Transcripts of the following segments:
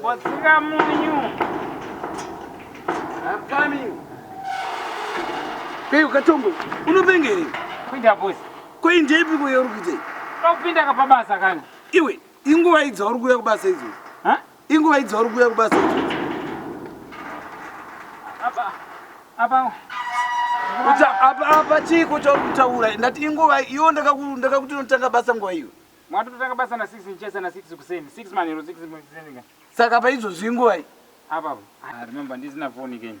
Botsika munyu. I'm coming. Hey, ukatombo. Unopenga here? Kuinda boss. Kuinda ipi kuya uri kuita? Ndakupinda ka pabasa kani. Iwe, inguva idzi uri kuya kubasa idzo. Inguva idzi vari kuuya kubasa idzodzi. Apa apa apa apa chiiko chauri kutaura? Ndati inguva iyo ndakakuti unotanga basa nguva iyo. Mwati totanga basa na 6 ndichesa na 6 kuseni. 6 manhero 6 kuseni. Saka apa idzozvi inguva iyi. Apa apa. Ah, remember ndisina phone again.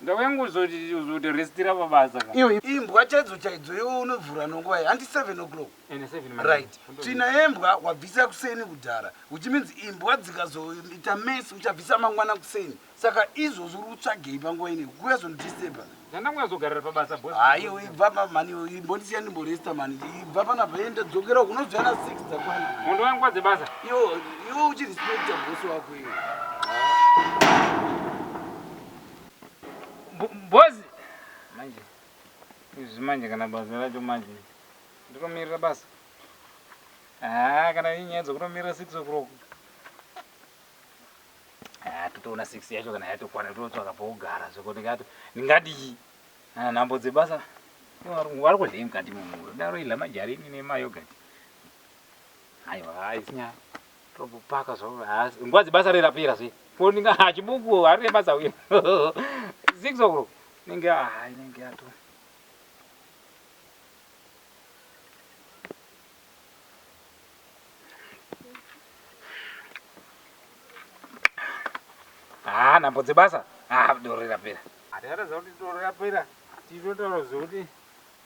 Ndauya ngozozote restira pabasa ka. Iwe imbwa chaidzo chaidzo iwe unovhura nonguva iyi handi 7 o'clock. Ende 7 manje. Right. Tsvina yembwa wabvisa kuseni kudhara which means imbwa dzikazoita mess uchabvisa mangwana kuseni. Saka izvozvi uri kutsvagei panguva ino iyi kuuya zvondidisturber. Ndandauya kuzogarira pabasa boss. Haa iwe ibva apa mhani iwe imbondisiya ndimboresta mhani ibva panapa enda dzokera uko unozouya na 6 dzakwana. Hondo yangu kwadze basa. Iwe iwe uchirespecta boss wako iwe. boss manje izvi manje kana basa racho manje ndotomirira basa haa kana inyaya dzokutomirira six o'clock haa totoona six yacho kana yatokwana tototsvaka pokugara zvekuti kato ndingadii ana nhambo dzebasa vari kudlei mukati mumuro daro idla majarini nemayogati aiwa haisinyaya Tobupaka zvo haasi nguva dzebasa rei rapera zve ko ndinga ha chibuku harine basa uye six o'clock inenge ha inenge yato ha nhambo dzebasa ha doro rapera hatikataza kuti doro rapera titotaura zvekuti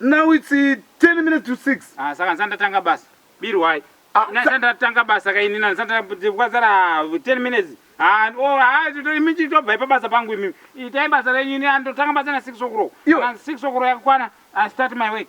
Now it's 10 eh, minutes to 6. Ah, saka ndisati ndatanga basa. Birwai. Ah, ndisati ndatanga basa ka ini ndisati ndakazara 10 minutes. Ah, oh, ah, imi chitobva ipa basa pangu imi. Itai basa renyu ini andotanga basa na 6 o'clock. Kana 6 o'clock yakwana, I start my work.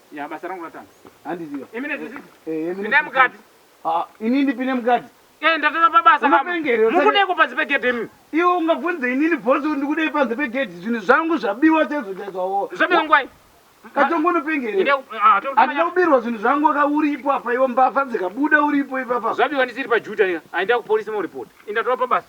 Ya basa rangu ratanga. Handiziva. Imi ne zvisisi. Eh, imi. Ndine mukati. Ah, ini ndipine mukati. Eh, ndatova pa basa. Unopengere. Mukudei ko panze pe gate imi. Iwe ungabvunza ini ni boss undi kudei panze pe gate. Zvinhu zvangu zvabiwa chaizvo chaizvo awo. Zvabiwa ngwai. Katongo unopengere. Ine ah, to. Andina kubirwa zvinhu zvangu waka uri ipo apa iwe mbavha dzikabuda uri ipo ipapa. Zvabiwa ndisiri pa juta ika. Aenda ku police mo report. Inda topa basa.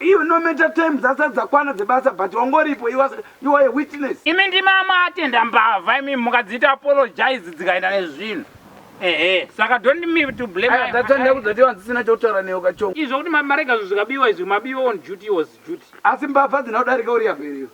Iwe no matter time dzasati dzakwana dzebasa but wangoripo you are, you are a witness. Imi ndimi amatenda mbavha imi mukadziita apologize dzikaenda nezvinhu ehe saka don't me to blame Aya data ndakudza kuti wanzisina chokutaura newe kachongo. Izvo kuti marega zvinhu zvikabiwa izvi mabiwa on duty was duty. Asi mbavha dzina kudarika uriyago here iwe.